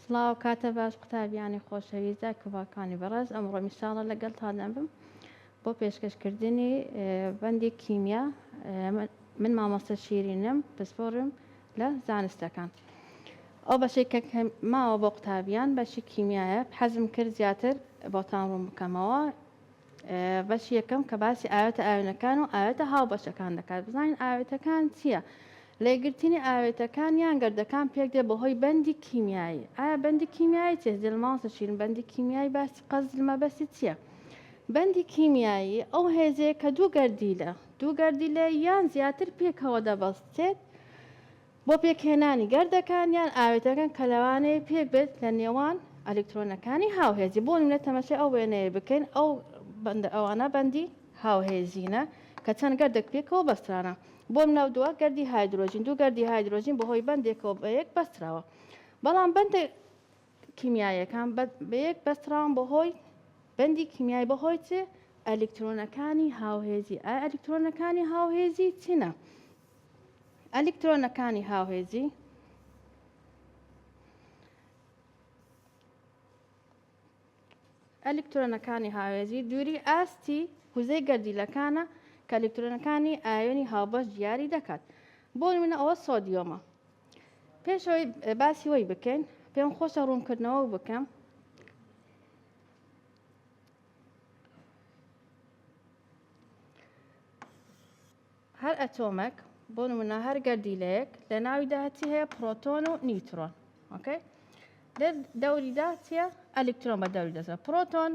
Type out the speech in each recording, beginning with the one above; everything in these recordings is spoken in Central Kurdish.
سڵاو کاتە باش قوتابیانی خۆشەویست دا کڤاکانی بەڕێز ئەمڕۆ میشاڵە لەگەلتا دەمبم بۆ پێشکەش کردنی بەندی کیمیا من مامۆستا شیرینم پسپۆرم لە زانستەکان ئەو بەشی کە ماوە بۆ قوتابیان بەشی کیمیایە حەزم کرد زیاتر بۆتان ڕوون بکەمەوە بەشی یەکەم کە باسی ئاوێتە ئاوێنەکان و ئاوێتە هاوبەشەکان دەکات بزانین ئاوێتەکان چییە؟ لێگرتنی ئاوێتەکان یان گردەکان پێک دێ بەهۆی بەندی کیمیایی ئایا بەندی کیمیایی چێ زل ماڵسە شیرن بەندی کیمیایی باسی قەزل مەبەستی چییە؟ بەندی کیمیایی ئەو هێزەیە کە دوو گەردیلە دوو گەردیلە یان زیاتر پێکەوە دەبەستێت بۆ پێکهێنانی گەردەکان یان ئاوێتەکان کە لەوانەیە پێک بێت لە نێوان ئەلیکترۆنەکانی هاوهێزی بۆ نمونە تەمەشای ئەو وێنەیە بکەین ئەو بەندە ئەوانە بەندی هاوهێزینە کە چەند گەردەک پێکەوە بەسترانە بۆ نمونە دووە گەردی هایدرۆجین دوو گەردی هایدرۆجین بەهۆی بەندێکەوە بە یەک بەستراوە بەڵام بەندە کیمیاییەکان بە یەک بەستراون بەهۆی بەندی کیمیای بەهۆی چ ئەلیکترۆنەکانی هاوهێزی ئایا ئەلیکترۆنەکانی هاوهێزی چینە ئەلیکترۆنەکانی هاوهێزی ئەلیکترۆنەکانی هاوێزی دووری ئاستی وزەی گەردیلەکانە کە ئەلیکترۆنەکانی ئایۆنی هاوبەش دیاری دەکات بۆ منە ئەوە سۆدیۆمە پێشەوەی باسی وەی بکەین پێم خۆشە ڕوونکردنەوە بکەم هەر ئەتۆمەک بۆ نمونە هەر گەردیلەیەک لە ناویدا چی هەیە پرۆتۆن و نیوترۆن ئۆکەی لە دەوریدا چیە ئەلکترۆن بە دەوری دەزە پرۆتۆن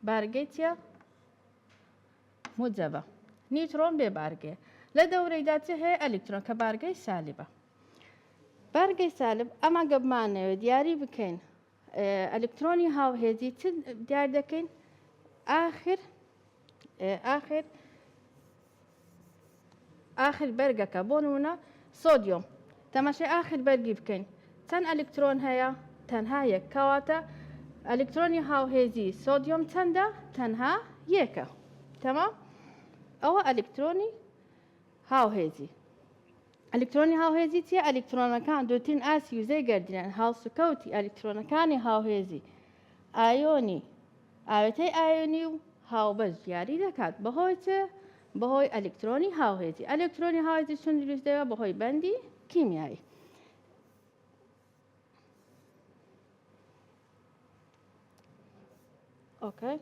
بارگەی چیە موجەبە نیوترۆن بێ بارگێ لە دەورەیدا چ هەیە ئەلکترۆن کە بارگەی سالیبە بارگەی سالب ئەمە گەبمانەوێت دیاری بکەین ئەلکترۆنی هاوهێزی چ دیار دەکەین ئاخر ئاخر ئاخر بەرگەکە بۆ نمونە سۆدیۆم تەماشای ئاخر بەرگی بکەین چەند ئەلکترۆن هەیە تەنها یەک کەواتە ئەلکترۆنی هاوهێزی سۆدیۆم چەندە تەنها یەکە تەمام ئەوە ئەلکترۆنی هاوهێزی ئەلیکترۆنی هاوهێزی چیە؟ ئەلیکترۆنەکان دوورترین ئاستی وزەی گەردیلەن، هەڵسوکەوتی ئەلیکترۆنەکانی هاوهێزی ئایۆنی ئاوێتەی ئایۆنی و هاوبەش دیاری دەکات، بەهۆی چ؟ بەهۆی ئەلیکترۆنی هاوهێزی، ئەلیکترۆنی هاوهێزی چۆن دروست دەبێت؟ بەهۆی بەندی کیمیایی. ئۆکەی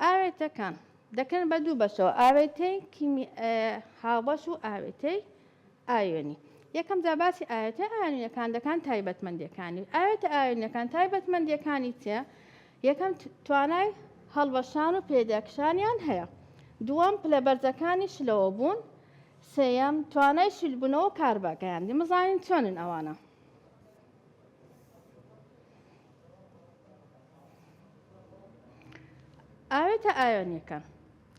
ئاوێتەکان دەکەن بە دوو بەشەوە ئاوێتەی هاوبەش و ئاوێتەی ئاوێنی یەکەم جا باسی ئاەتە ئاوینەکان دەکان تایبەتمەندەکانی ئاەتە ئاوینەکان تایبەتمەندەکانی چێ یەکەم، توانای هەڵوەشان و پێداکشانیان هەیە. دووەم، پلە بەرزەکانی شلەوە بوون. سێیەم، توانای شل بوونەوە و کاربا گەیاندن. بزانین چۆنن ئەوانە. ئاوێتە ئایۆنیەکان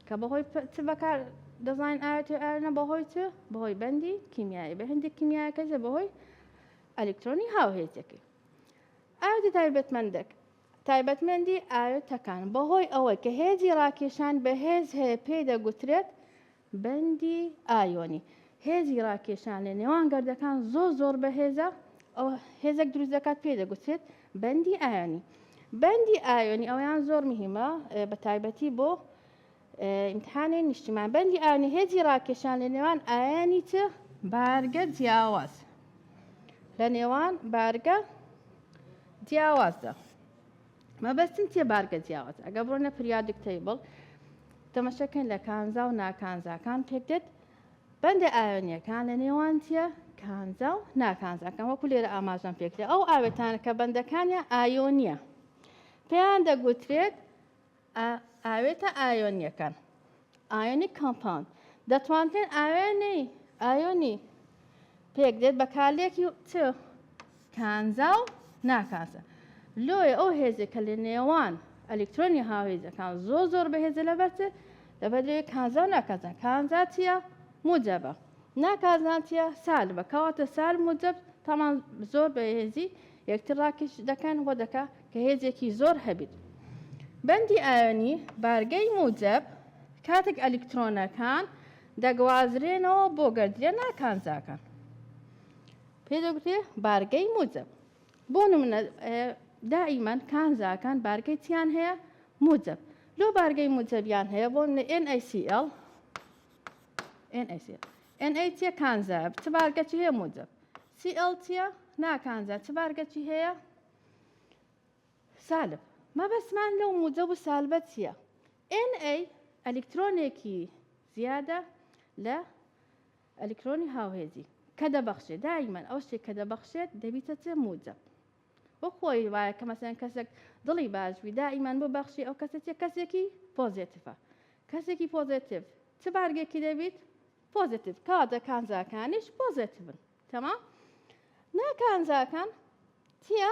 کە بەهۆی چ بەکار دەزانین ئاوێتی ئایۆنە بەهۆی چ بەهۆی بەندی کیمیایی بە هەندێک کیمیایەکەی بەهۆی ئەلکترۆنی هاوهێزەکەی ئاوێتە تایبەتمەندەک تایبەتمەندی ئاوێتەکان بەهۆی ئەوەی کە هێزی ڕاکێشان بەهێز هەیە پێی دەگوترێت بەندی ئایۆنی هێزی ڕاکێشان لە نێوان گردەکان زۆر زۆر بەهێزە ئەو هێزێک دروست دەکات پێی دەگوترێت بەندی ئایۆنی بەندی ئایۆنی ئەویان زۆر مهمە بە تایبەتی بۆ ئیمتحانی نیشتیمان بەندی ئا نهێجی ڕاکێشان لە نێوان ئایانی چ بارگە جیاواز لە نێوان بارگە جیاوازدا مەبەستم چیە بارگە جیاواز ئەگە بڕۆنە پریادک تەیبڵ تەمەشەکەن لە کانزا و ناکانزاکان پێکدێت بەندە ئاوێنیەکان لە نێوان چیە کانزا و ناکانزاکان وەکو لێرە ئاماژەم پێکرێت ئەو ئاوێتانە کە بەندەکانیان ئایۆنیە پێیان دەگوترێت ئا ئاوێتە ئایۆنیەکان ئایۆنی کۆمپاوند دەتوانرێت ئاوێنەی ئایۆنی پێک دێت بە کالێکی چ کانزا و ناکانزا لۆیە ئەو هێزێ کە لە نێوان ئەلکترۆنی هاوێزەکان زۆر زۆر بەهێزە لە بەرچێ لە بەدرێ کانزا و ناکازان کانزا چییە موجەبە ناکازان چیە سال بە کەواتە سال موجب تامان زۆر بەهێزی یەکتر ڕاکێش دەکەن وە دەکا کە هێزێکی زۆر هەبیت. بەندی ئایۆنی بارگەی موجەب کاتێک ئەلیکترۆنەکان دەگوازرێنەوە بۆ گەردیلە ناکانزاکان پێ دەگوترێ بارگەی موجەب بۆ نمونە دائیمەن کانزاکان بارگەی چیان هەیە موجەب لۆ بارگەی موجەبیان هەیە بۆ NaCl NaCl NA چیە کانزایە چ بارگەچی هەیە موجەب CL چیە ناکانجا چ بارگەچی هەیە سالب مەبەستمان لەو موجب و سالبە چیە NA ئەلیکترۆنێکی زیادە لە ئەلیکترۆنی هاوهێزی کە دەبەخشێت دایمەن ئەو شتێک کە دەبەخشێت دەبیتە چێ موجب وە خۆی وایە کە مەسەن کەسێک دڵی باشوی دائیمان بۆ بەخشی ئەو کەسێتە کەسێکی پۆزێتفە کەسێکی پۆزێتیف چ بارگێکی دەبیت پۆزەتیڤ کەواتە کانزاکانیش پۆزەتیڤن تەمام نا کانزاکان تیا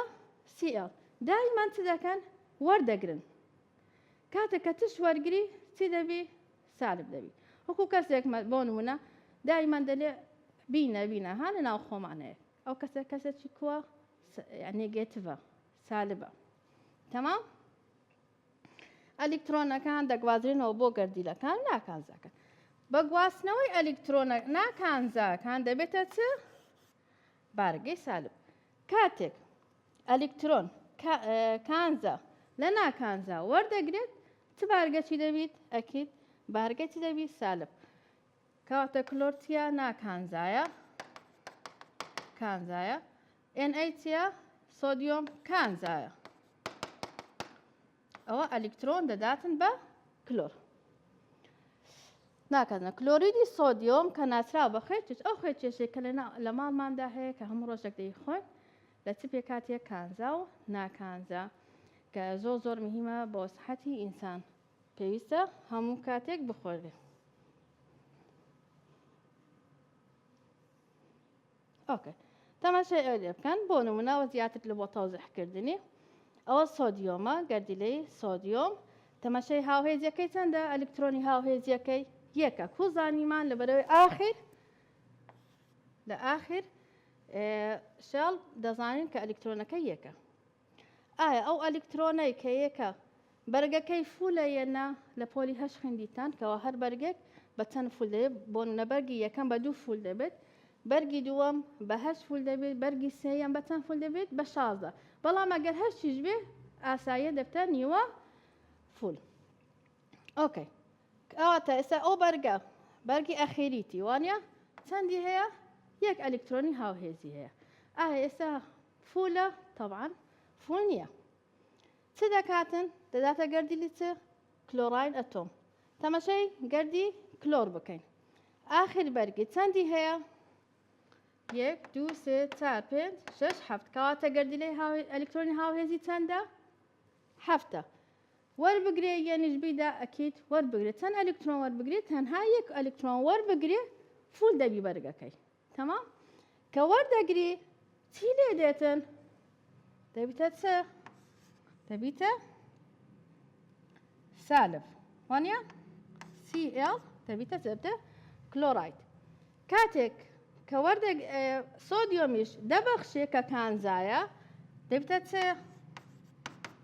سیL دایمان چ دەکەن وەردەگرن کاتێک کە تش وەرگری چی دەبی سالب دەبی وەکو کەسێک بۆ نمونە دایمان دەلێ بینە بینە ها لە ناو خۆمانەیە ئەو کەسە کەسێکی کووە نێگەتڤە سالبە تەمام ئەلیکترۆنەکان دەگوازرێنەوە بۆ گەردیلەکان ناکانزاکە بە گواستنەوەی ئەلیکترۆنە ناکانزاکان دەبێتە چ بارگەی سالب کاتێک ئەلیکترۆن کانزا لە ناکانزا وەردەگرێت چ بارگەچی دەبیت ئەکیت بارگەچی دەبی سالب کەواتە کلۆرتیا ناکانزایە کانزایە ئێن ئەی چیە؟ سۆدیۆم کانزایە ئەوە ئەلیکترۆن دەداتن بە کلۆر ناکەنە کلۆریدی سۆدیۆم کە ناچراو بە خوێ چێت ئەو خوێ چێشێک کە لە ماڵماندا هەیە کە هەموو ڕۆژێک دەی خۆن لە چ پێکاتیە کانزا و ناکانزا کە زۆ زۆر مهمە بۆ سحەتی ئینسان پێویستە هەموو کاتێک بخۆێ ئۆکێ تەماشای ئەوێ بکەن بۆ نمونەوە زیاتر لە بۆ تەوزیحکردنی ئەوە سۆدیۆمە گەردیلەی سۆدیۆم تەماشای هاوهێزیەکەی چەندە ئەلکترۆنی هاوهێزیەکەی یەکە کو زانیمان لە بەرەوەی ئاخر لە ئاخر شاڵ دەزانین کە ئەلکترۆنەکە یەکە ئایا ئەو ئەلیکترۆنەی کە یەکە بەرگەکەی فولە یە نا لە پۆلی هەشت خویندیتان کەوا هەر بەرگێک بە چەند فول دەبێت بۆ نمونە بەرگی یەکەم بە دوو فول دەبێت بەرگی دووەم بە هەشت فول دەبێت بەرگی سێیەم بە چەند فول دەبێت بە شازدە بەڵام ئەگەر هەرچیش بێ ئاساییە دەبتە نیوە فول ئۆکەی ئەواتە ئێستا ئەو بەرگە بەرگی ئەخیریتی وانە چەندی هەیە یەک ئەلکترۆنی هاوهێزی هەیە ئایا ئێستا فولە طبعا فول نییە چ دەکاتن دەداتە گەردی لیچ کلۆڕین ئەتۆم تەمەشەی گەردی کلۆر بکەین ئاخر بەرگی چەندی هەیە یەک دو سێ چار پێنج شش هەفت کەواتە گەردی لەی ئەلکترۆنی هاوهێزی چەندە هەفتە وەربگرێ یەنیش بیدا ئەکییت وەربگرێت چەند ئەلکترۆن وەربگرێت تەنها یەک ئەلکترۆن وەربگرێ فول دەبی بەرگەکەی تەمام کە وەردەگری چی لێ دێتن دەبیتە چ دەبیتە سالب وانە CL دەبیتە چێبتە کلۆرایت کاتێک کە وەردەگ سۆدیۆمیش دەبەخشێ کە کانزایە دەبتە چێ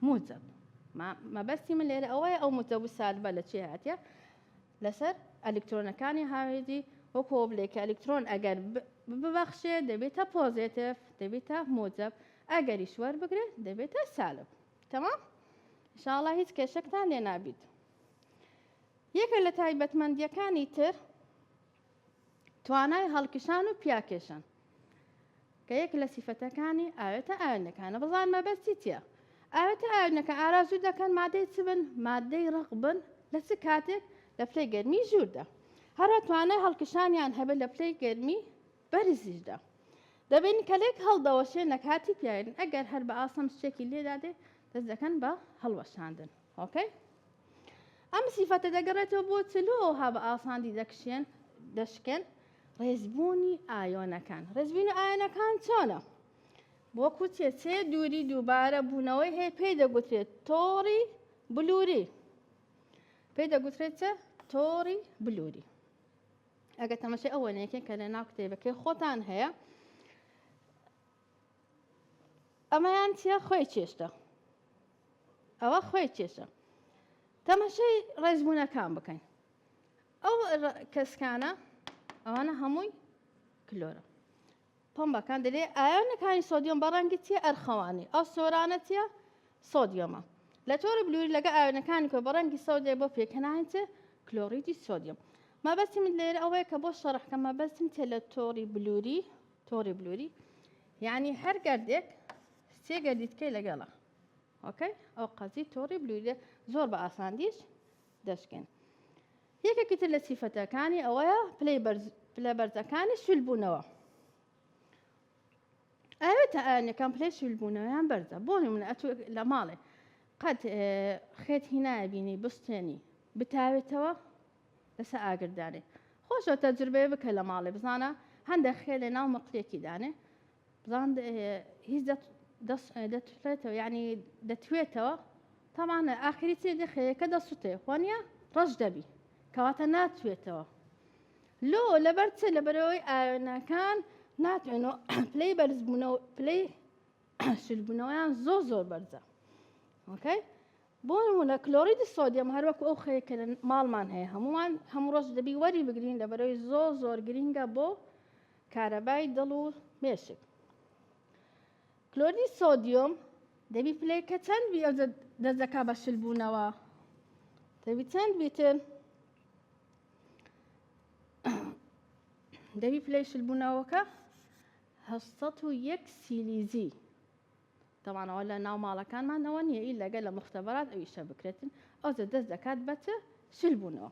موجب مەبەستی من لێرە ئەوەیە ئەو متەبوو سالبە لە چێ هاتە لەسەر ئەلیکترۆنەکانی هاوێژی وەکو ئەوە بلێ کە ئەلیکترۆن ئەگەر ببەخشێ دەبێتە پۆزێتف دەبێتە موجەب ئەگەریش وەربگرێ دەبێتە سالب تەمام شاڵە هیچ کێشەکتان لێ نابیت یەکە لە تایبەتمەندیەکانی تر توانای هەڵکشان و پیاکێشان کە یەک لە سیفەتەکانی ئاوێتە ئاوێنەکانە بزان مەبەستی چیە ئاوێتە ئاوێنەکە ئارازوو دەکەن مادەی چ بن مادەی ڕق بن لە چ کاتێک لە پلەی گەرمی ژووردا هەرە توانای هەڵکشانیان هەبێت لە پلەی گەرمی بەرزیشدا دەبین کە لێک هەڵدەوەشێ نەکاتی پیاێن ئەگەر هەر بە ئاسەم شتێکی لێدادێ دەست دەکەن بە هەڵوەشاندن ئۆکەی ئەم سیفەتە دەگەڕێتەوە بۆ چلۆ ها بە ئاساندی دەکشێن دەشکێن ڕێزبوونی ئایۆنەکان ڕێزبوون ئایەنەکان چۆنە وەکو چێچێ دووری دووبارە بوونەوەی هەیە پێی دەگوترێت تۆڕی بلووری پێی دەگوترێت چە تۆڕی بلووری ئەگە تەمەشی ئەوەنێکێک کە لە ناو کتێبەکەی خۆتان هەیە ئەمەیان چیە خۆی چێشتە ئەوە خۆی چێشە تەمەشەی ڕێزبوونەکان بکەین ئەو کەسکانە ئەوانە هەمووی کلۆرە پمبەکان دەلێ ئایانەکانی سۆدیۆم بەڕەنگی چیە ئەرخەوانی ئەو سۆرانە چیە سۆدیۆمە لە تۆرە بلووری لەگە ئاوێنەکانی کۆ بەڕەنگی سەودێ بۆ پێکەناین چێ کلۆریدی سۆدیۆم مەبەستی من لێرە ئەوەیە کە بۆ شەڕحکە مەبەستم تێ لە تۆری بلووری تۆڕی بلوری یعنی هەر گەردێک سێ گەردی تکەی لەگەڵە ئۆکەی ئەو قەزی تۆڕی بلوری زۆر بە ئاساندیش دەشکێن یەکێکی تر لە سیفەتەکانی ئەوەیە پلەی پلە بەرزەکانی سولبوونەوە ئەوێتە ئەنەکان پلەی سولبوونەوەیان بەرزە بۆ نمونە ئەتو لە ماڵێ قەت خێت هینایە بینی بستێنی بتاوێتەوە لەسە ئاگر دانێ خۆشە تەجربەیە بکە لە ماڵێ بزانە هەندە خێ لە ناو مەقلێکی دانێ بزان هیچ دەتڵێتەوە یعنی دەتوێتەوە تەمانە ئاخری چێ دەخەیەکە دەسوتێ خۆنیە ڕەش دەبی کەواتە ناتوێتەوە لۆ لەبەر چێ لە بەرەوەی ئاوێنەکان ناتوێنەوە پلەی بەرزبوونەوە پلەی شلبوونەوەیان زۆر زۆر بەرزە ئۆکەی بۆ نموونە کلۆریدی سۆدیەم هەر وەکو ئەو خەیە کە لە ماڵمان هەیە هەمووان هەموو ڕۆژ دەبی وەری بگرین لە بەرەوەی زۆر زۆر گرینگە بۆ کارەبای دڵ و مێشک کلۆریدی سۆدیۆم دەبی پلەیەکە چەند بی ئەو دەست دەکا بە شل بوونەوە دەبی چەند بیتن دەبی پلەی شل بوونەوەکە 1970 سیلیزی تەبان ئەوە لە ناو ماڵەکانمان ئەوە نییە ئی لەگە لە مختبرات ئەو ئیشە بکرێتن ئەوجە دەست دەکات بەت شل بوونەوە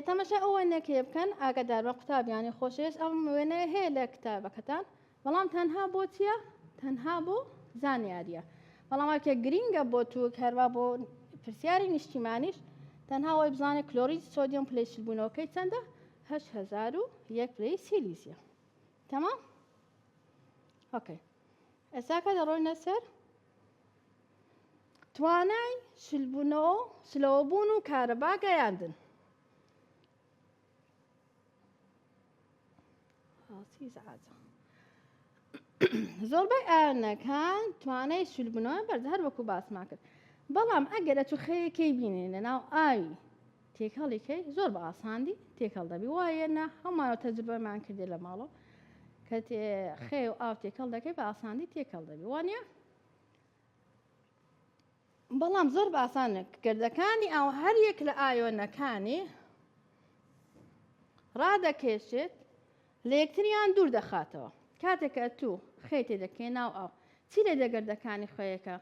تەمەشا ئەو وێنەکەی بکەن ئاگادار بە قوتابیانی خۆشەوێش ئەم وێنەیە هەیە لە کتابەکەتان بەڵام تەنها بۆ چییە تەنها بۆ زانیاریە بەڵامکە گرینگە بۆ تو هەروا بۆ پرسیاری نیشتیمانیش تەنها وای بزانێت کلۆریج سۆدیۆم پلی شلبوونەوەکەی چەندە هەش هزار و یەک پلی سیلیزیە تەمام؟ ئۆکەی ئێستا کە دەڕۆینە سەر توانای شلبوونەوە شلەوە بوون و کارەبا گەیاندن زۆربەی ئاەنەکان توانای شلبوونەوە بەرز هەر وەکو باسما کرد بەڵام ئەگەرە توخەیەکەی بینێ لە ناو ئاوی تێکەڵی کەی زۆر بە ئاساندی تێکەڵ دەبی وایە نا هەمانەوە تەجربەمان کردێ لە ماڵەوە کە خێ و ئاو تێکەڵ دەکەی بە ئاساندی تێکەڵ دەبی وانە بەڵام زۆر بە ئاسانە گردەکانی ئاو هەر یەک لە ئایۆنەکانی ڕادەکێشێت لە یەکتریان دوور دەخاتەوە کاتێکە تو خێتێ دەکەی ناو ئاو چی لە دەگەردەکانی خۆیەکە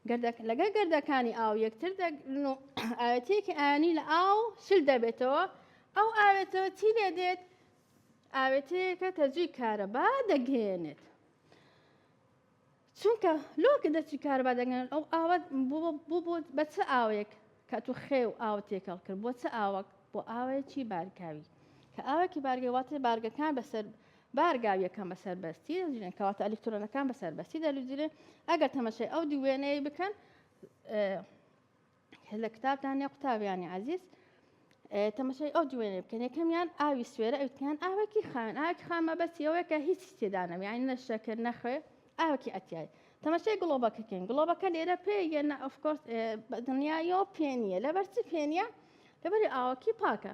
گردەکە لەگەڵ گردەکانی ئاو یەکتر دەگرن و ئاوێتەیەکی ئایانی لە ئاو شل دەبێتەوە ئەو ئاوێتەوە چی لێ دێت ئاوێتەیەکە تەجوی کارەبا دەگەێنێت چونکە لۆکە دەچی کاربا دەگەن ئەو ئاوات بوو بە چ ئاوێک کە تو خێ و ئاو تێکەڵ کرد بۆ چ ئاوەک بۆ ئاوەیەکی بارکاوی کە ئاوەکی بارگەی واتێ بارگەکان بەسەر بارگاوییەکان بە سەربەستی دەدرێن کەواتە ئەلیکترۆنەکان بە سەربەستی دەدرێن ئەگەر تەمەشای ئەو دووێنەیە بکەن لە کتابدان یا قوتابیانی عزیز تەمەشای ئەو دوێنێ بکەن یەکەمیان ئاوی سوێرە ئەوتیان ئاوەکی خاوێن ئاکی خامە بەسیەوەیکە هیچ تێدانم یان نەشەکرد نەخوێ ئاوکی ئەتیای تەمەشای گڵۆبەکەکەین گڵۆبەکە لێرە پێ یەنە ئەفکۆرس دنیایەوە پێ نییە لەبەرچی پێ نییە لەبەری ئاوەکی پاکە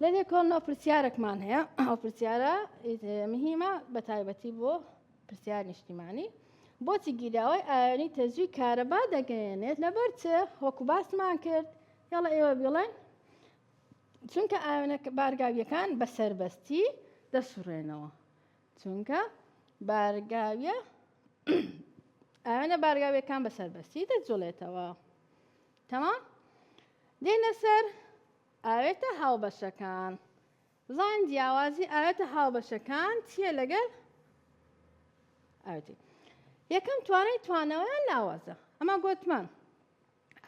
لە لێکۆڵنەوە پرسیارێکمان هەیە ئەو پرسیارە مهمە بە تایبەتی بۆ پرسیار نیشتیمانی بۆچی گیراوەی ئاوێنی تەزوی کارەبا دەگەیەنێت لەبەر چ وەکو باسمان کرد یاڵە ئێوە بڵێن چونکە ئاوێنە بارگاویەکان بە سربەستی دەسوڕێنەوە چونکە بارگاویە ئاوێنە بارگاویەکان بە سربەستی دەجوڵێتەوە تەمام دێنە سەر ئاوێتە هاوبەشەکان بزانین جیاوازی ئاوێتە هاوبەشەکان چییە لەگەل ئاوێتی یەکەم توانای توانەوەیان لاوازە ئەمە گوتمان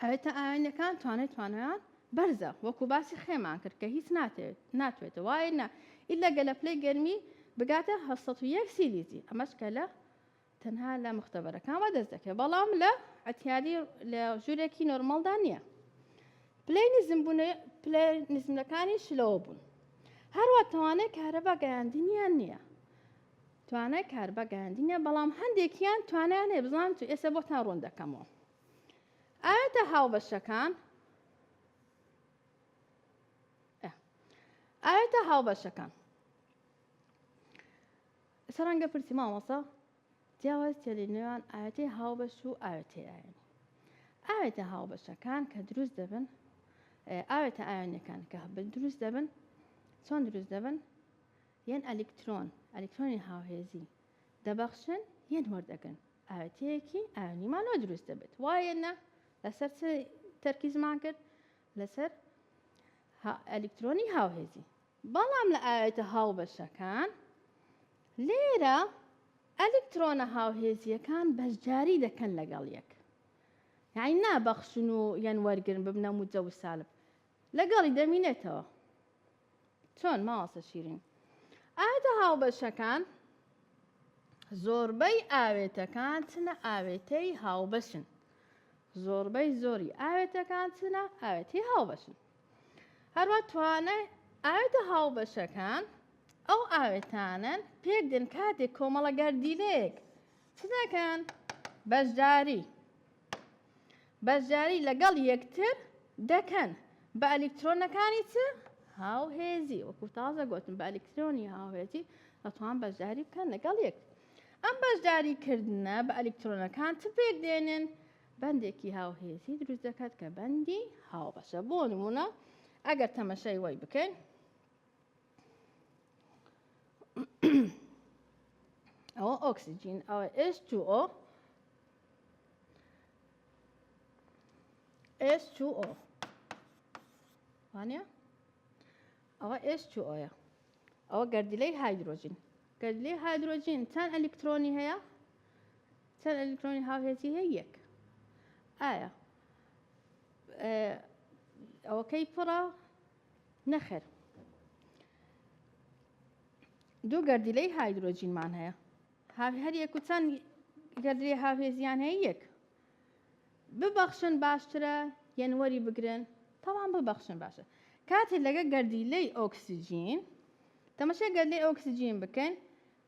ئاوێتە ئاوێنەکان توانای توانەیان بەرزە وەکو باسی خێمان کرد کە هیچ ناتێت ناتوێتە وایە ئیلا گەلە پلەی گەرمی بگاتە 1970 سیلیزی ئەمەش کە لە تەنها لە مختبەرەکان وا دەست دەکەێت بەڵام لە ئەتیاری لە ژوورێکی نۆرمەڵدا نییە پلەی نزم بوون پلە نزمەکانی شلەوە بوون هەروە توانای کارەبا گەیاندنیان نییە توانای کاربە گەیاندنیە بەڵام هەندێکیان توانیان هەیە بزان تو ئێستا بۆ تا ڕوون دەکەمەوە ئاەتە هاوبەشەکان ئاەتە هاوبەشەکان ئستا ڕەنگە پرسی مامۆستا جیاواز چیە لە نێوان ئاوێتەی هاوبەش و ئاوێتەی ئاوێنی؟ ئاوێتە هاوبەشەکان کە دروست دەبن ئاوێتە ئاوێنەکان کە هەبن دروست دەبن چۆن دروست دەبن یەن ئەلیکترۆن ئەلیکترۆنی هاوهێزی دەبەخشن یەن وەردەگرن ئاوێتەیەکی ئاوێنیمان لۆ دروست دەبێت وایە نە لەسەر تەرکیزمان کرد لەسەر هە ئەلیکترۆنی هاوهێزی. بەڵام لە ئاوێتە هاوبەشەکان لێرە ئەلیکترۆنە هاوهێزییەکان بەشداری دەکەن لەگەڵ یەک یعنی نابەخشن و یان وەرگرن ببنە موجەوسالب لەگەڵی دەمینێتەوە. چۆن مامۆستا شیرین ئاوێتە هاوبەشەکان زۆربەی ئاوێتەکان چنە ئاوێتەی هاوبەشن زۆربەی زۆری ئاوێتەکان چنە ئاوێتی هاوبەشن هەروە توانای ئاوێتە هاوبەشەکان ئەو ئاوێتانن پێک دن کاتێک کۆمەڵە گەردیلەیەک چ دەکەن بەشداری بەشداری لەگەڵ یەکتر دەکەن بە ئەلیکترۆنەکانی چ هاوهێزی وەکو تازە گوتم بە ئەلیکترۆنی هاوهێزی دەتوان بەشداری بکەن لەگەڵ یەک ئەم بەشداری کردنە بە ئەلیکترۆنەکان چ پێک دێنن بەندێکی هاوهێزی دروست دەکات کە بەندی هاوبەشە بۆ نمونە ئەگەر تەمەشای وای بکەین ئەوە ئۆکسجین ئەوە H2O H2O وانە ئەوە H2Oە ئەوە گردیلەی هایدرۆجین گردلی هایدرۆجین چەند ئەلیکترۆنی هەیە چەند ئەلیکترۆنی هاوهێزی هەیە یەک ئایا ئەوەکەی پڕە نەخێر دوو گەردیلەی هایدرۆجینمان هەیە هەریەک و چەند گەردری هاوێزیان هەیە یەک ببەخشن باشترە یەنوەری بگرن تەوان ببەخشن باشە کاتێ لەگە گەردیلەی ئۆکسسیجین تەمەشە گەردی ئۆکسسیجین بکەن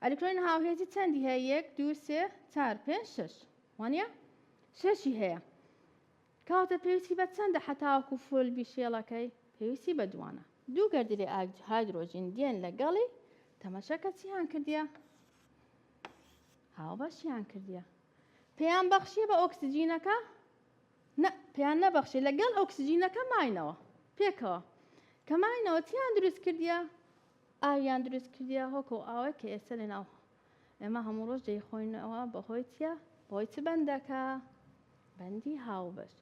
ئەلیکترۆین هاوهێزی چەندی هەیە یەک دو سێ چار پێ شش وانە شەشی هەیە کەواتە پێویستی بە چەندە هەتاوەکو فول بیشێڵەکەی؟ پێویستی بە دووانە. دوو گەردیلەی ئاگ هایدرۆجین دێن لەگەڵی، تەمەشەکە چیان کردیە؟ هاوبەشیان کردیە. پێیان بەخشیە بە ئۆکسجینەکە؟ نە، پێیان نەبەخشی لەگەڵ ئۆکسجینەکە ماینەوە پێکەوە. کە ماینەوە چیان دروست کردیە؟ ئاویان دروست کردیە هۆکە و ئاوەی کە ئێستا لەناو ئێمە هەموو ڕۆژ دەیخۆینەوە بەهۆی چییە؟ بەهۆی چ بەندەکە؟ بەندی هاوبەش.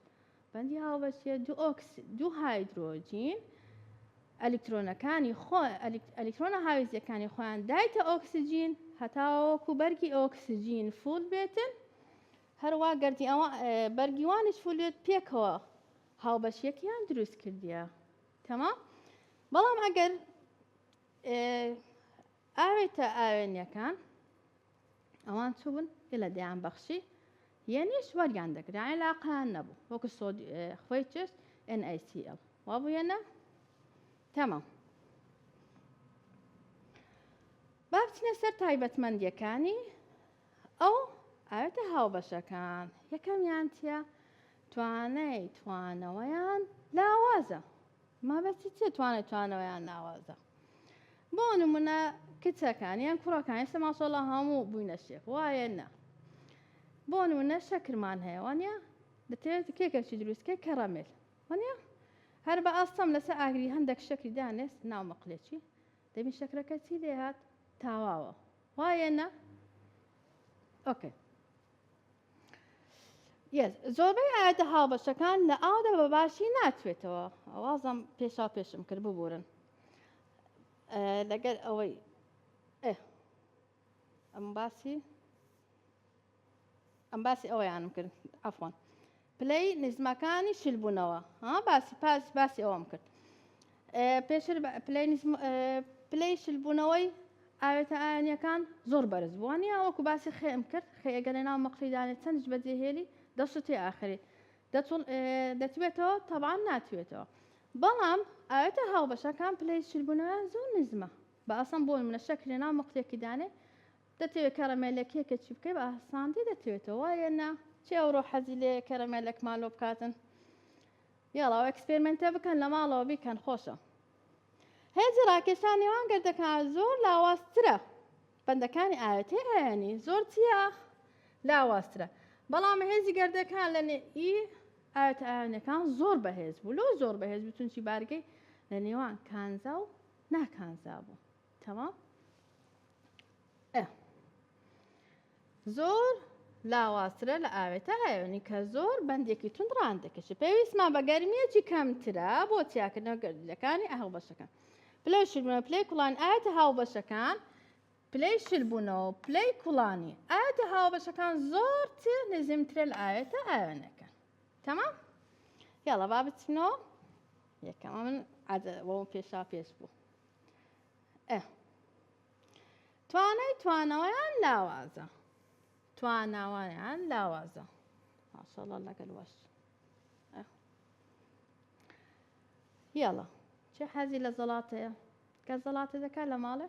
بەندی هاوبەشیە دوو ئۆکس دوو هایدرۆجین ئەلیکترۆنەکانی خۆ ئەلیکترۆنە هاویزیەکانی خۆیان دایتە ئۆکسسیجین هەتاوەکو بەرگی ئۆکسسیجین فول بێتن هەروە گردی ئەوە بەرگیوانش فولێت پێکەوە هاوبەشیەکیان دروست کردیە تەما بەڵام ئەگەر ئاوێتە ئاوێنیەکان ئەوان چوون گەلە دەیان بەخشی یەنیش وەریان دەگرا عێلاقیان نەبوو وەکو خۆی چێشت NaCl وا بوویەنە تەمە بابچنە سەر تایبەتمەندیەکانی ئەو ئاوێتە هاوبەشەکان یەکەمیان چیە توانای توانەوەیان لاوازە مەبەستی چیە توانای توانەوە یان ناوازە بۆ نمونە کچەکان یان کوڕەکان ئێستا ماشەڵا هەموو بووینە شێخ وایە نا بۆ نمونە شەکرمان هەیە وانە دەتەوێت کێکەشی دروستکە کەڕەمێل وانە هەر بە ئاستەم لەسەر ئاگری هەندێک شەکری دانێست ناو مەقلێکی دەبین شەکرەکە چی لێهات تاواوە وایە نا ئۆکەی زۆربەی ئاەتە هاوبەشەکان لە ئاودا بە باشی ناچێتەوە ئەوازم پێشا پێشم کرد ببورن لەگەر ئەوەی ئەم باسی ئەم باسی ئەوەیانم کرد ئەفۆن پلەی نزمەکانی چل بوونەوە ها باسی پاس باسی ئەوەم کرد پێشتر پلەی نزم پلەی چل بوونەوەی ئاوێتە ئاەنیەکان زۆر بەرز بووان یا وەکو باسی خێم کرد خێگە لە ناو مەقلیدانێت چەندش بەجێهێلی دەستی ئاخری دەتوێتەوە تەبان ناتوێتەوە بەڵام ئاەتە هاوبەشەکان پلەی چلبوونەوە زۆر نزمە بە ئەسم بۆن منە شەکرێ ناو مەقلێکی دانێ دەتەوێ کەرەمێلێک کێکەچی بکەی بە ئاساندی دەتوێتەوە وایە نا چێ ئەوڕۆ حەزی لێ کەرەمێلێکمان لۆ بکاتن یاڵاو ئەکسپێرمنتە بکەن لە ماڵەوە بیکەن خۆشە هێزی ڕاکێشان نێوان گردەکان زۆر لاوازترە بەندەکانی ئاەتی ئاەنی زۆر چیە لاوازترە بەڵام هێزی گردەکان لە ئی ئاەت ئاەنەکان زۆر بەهێز بوو لۆ زۆر بەهێز بتونچی بارگەی لە نێوان کانزا و ناکانزا بوو تەمام ئە زۆر لاوازترە لە ئاوێتە ئایۆنی کە زۆر بەندێکی تون ڕان دەکەش پێویستمان بە گەرمیەکی کەمترە بۆ تیاکردنەوە گەردلەکانی ئەهڵ بەشەکان پلە شربە پلێ کوڵان ئاەتە هاو بەشەکان پلەی شربوونەوە پلەی کوڵانی ئاەتە هاو بەشەکان زۆر نزمترە لە ئاەتە ئاوێنەکە تەمام یاڵە با بچنەوە یەکەمە من عادە بۆ پێشا پێش بوو ئە توانای توانەوەیان لاوازە تواناوەیان لاوازە ماشاءالله لەگەل وەش یاڵە چێ حەزی لە زەڵاتەیە کە زەڵاتە دەکات لە ماڵێ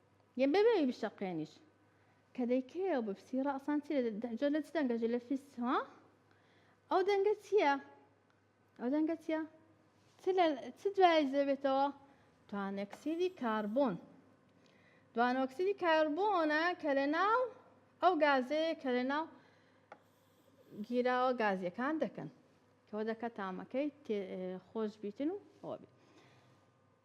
یە بێ بێوی بشەقێنیش کە دەیکەیەوە بپسی ڕەسان چی جۆ لە چ دەنگەژی لە فیس ها ئەو دەنگە چییە ئەو دەنگە چییە چ دوای زەبێتەوە توانەکسیدی کاربۆن دوانۆکسیدی کاربۆنە کە لە ناو ئەو گازەیە کە لە ناو گیراوە گازیەکان دەکەن کەەوە دەکە تامەکەی خۆش بیتن و ئەوە بێت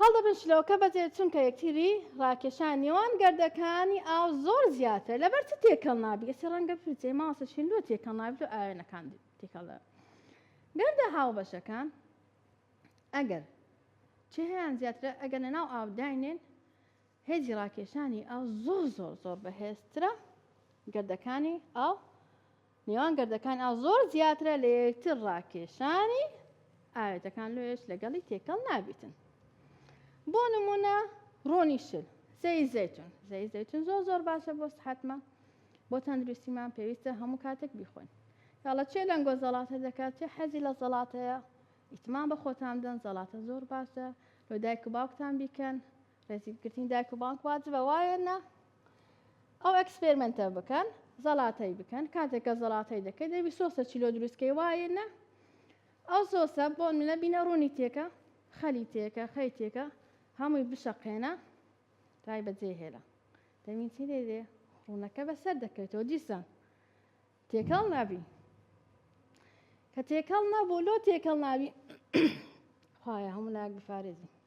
هەڵدەبن شلۆکە بەجێ چونکە یەکتری ڕاکێشان نێوان گردەکانی ئاو زۆر زیاترە لەبەر چ تێکەڵ نابی ئەچی ڕەنگە بفرچێ ماڵسە شین لۆ تێکەڵ نابی لۆ ئاوێنەکان تێکەڵ دەبن گردە هاوبەشەکان ئەگەر چهیان زیاترە ئەگەر لەناو ئاو داینێن هێزی ڕاکێشانی ئاو زۆر زۆر زۆر بەهێزترە گردەکانی ئاو نێوان گردەکان ئاو زۆر زیاترە لە یەکتر ڕاکێشانی ئاوێتەکان لۆیش لەگەڵی تێکەڵ نابیتن بۆ نمونە ڕۆنی شل زەی زەتون زەی زەتون زۆر زۆر باشە بۆ سحتمە بۆ تەندروستیمان پێویستە هەموو کاتێک بیخۆن یاڵە چێ لەنگۆ زەڵاتە دەکات چێ حەزی لە زەڵاتەیە ئیتمان بە خۆتان دەن زەڵاتە زۆر باشە لۆ دایک و باوکتان بیکەن ڕێزیگرتنی دایک و بانک واجبە وایە نە ئەو ئەکسپێرمنتە بکەن زەڵاتەی بکەن کاتێکە زەڵاتەی دەکەی دەبی سۆسە چیلۆ دروستکەی وایە نە ئەو سۆسە بۆ منە بینە ڕوونی تێکە خەلی تێکە خەی تێکە هەمووی بشەقێنە دوای بەجێ هێلە دەمین چی دێ دێ ڕوونەکە بەسەر دەکەوێتەوە دیسان تێکەڵ نابی کە تێکەڵ نەبوو لۆ تێکەڵ ناوی خخوایە هەموو ناک بفارێزی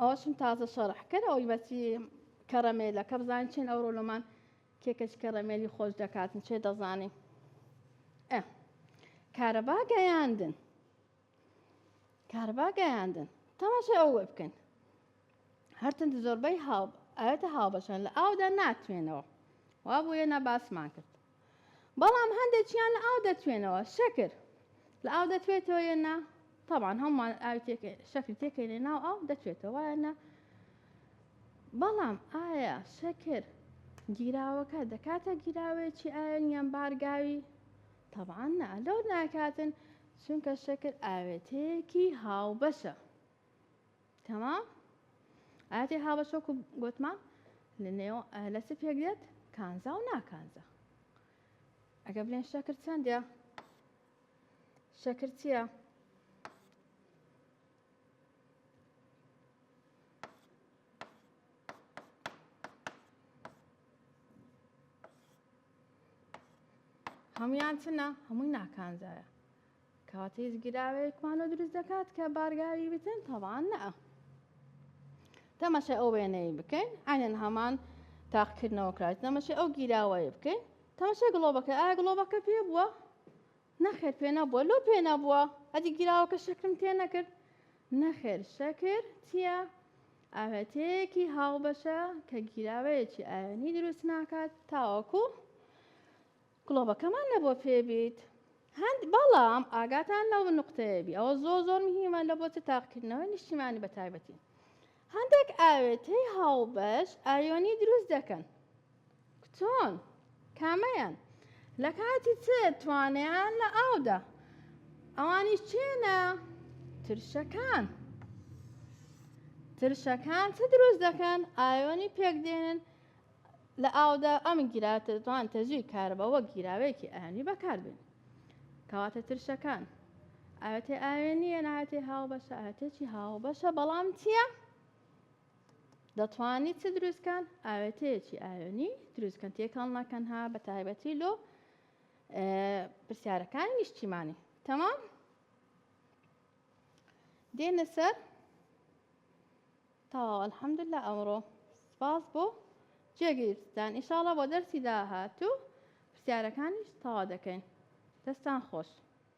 ئەوەشم تازە شەڕح کرد ئەوی بەچی کەڕەمێلە کە بزانین چێن ئەو ڕۆلۆمان کێکەش کەڕەمێلی خۆش دەکاتن چێ دەزانین کارەبا گەیاندن کارەبا گەیاندن تەماشای ئەو وێ بکەن هەرتن زۆربەی هاو ئاەتە هاوبەشان لە ئاودا ناتوێنەوە وا بۆیە نە باسمان کرد بەڵام هەندێکیان لە ئاو دەتوێنەوە شەکر لە ئاو دەتوێتەوە یە نا طبعا هەمومان ئاوی شەکری تێکەینێ ناو ئاو دەتوێتەوە وایە نا بەڵام ئایا شەکر گیراوەکە دەکاتە گیراوەیەکی ئاوێن یان بارگاوی طبعا نا لەو ناکاتن چونکە شەکر ئاوێتەیەکی هاوبەشە تمام ئاتی هاوەشۆک و گوتمان لە نێو لە چ پێک دێت کانزا و ناکانزا ئەگە بلێن شەکر چەندە شەکر چییە؟ هەمویان چنە هەمووی ناکانزایە کاتێ زگیراوێک مانۆ دروست دەکات کە بارگاوی بتن تەوان نە تەماشای ئەو وێنەی بکەین عینەن هەمان تاقکردنەوە کرات تەماشای ئەو گیراوەیە بکەین تەماشای گڵۆبەکە ئایا گڵۆبەکە پێ بووە نەخێر پێ نەبووە لۆ پێ نەبووە ئەدی گیراوەکە شەکرم تێ نەکرد نەخێر شەکر چییە ئاوێتەیەکی هاوبەشە کە گیراوەیەکی ئاوێنی دروست ناکات تاوەکو گڵۆپەکەمان لەبۆ پێبیت هەند بەڵام ئاگاتان لەو نقطەیەبی ئەوە زۆر زۆر مهمە لە بۆچە تاقکردنەوەی نیشتیمانی بە تایبەتی هەندێک ئاوێتەی هاوبەش ئایۆنی دروست دەکەن کچۆن کامەیان لە کاتی چ توانیان لە ئاودا ئەوانی چێنە ترشەکان ترشەکان چ دروست دەکەن ئایۆنی پێکدێنن لە ئاودا ئەم گیرا توان تەجوی کارەبا وەک گیراوەیەکی ئەهەنی بەکاربێن کەواتە ترشەکان ئاوێتێ ئاوێنیە ناوێتێ هاوبەشە ئاوێتێکی هاوبەشە بەڵام چییە؟ دەتوانی چ دروستکان ئاوێتەیەکی ئاوێنی دروستکەن تێکەڵ ناکەن ها بە تایبەتی لۆ پرسیارەکانی نیشتیمانی تەمام دێنە سەر تەواو الحمدللە ئەمڕۆ سپاس بۆ جێگیرتان ئیشاڵا بۆ دەرسی داهاتوو پرسیارەکانیش تەوا دەکەین دەستان خۆش.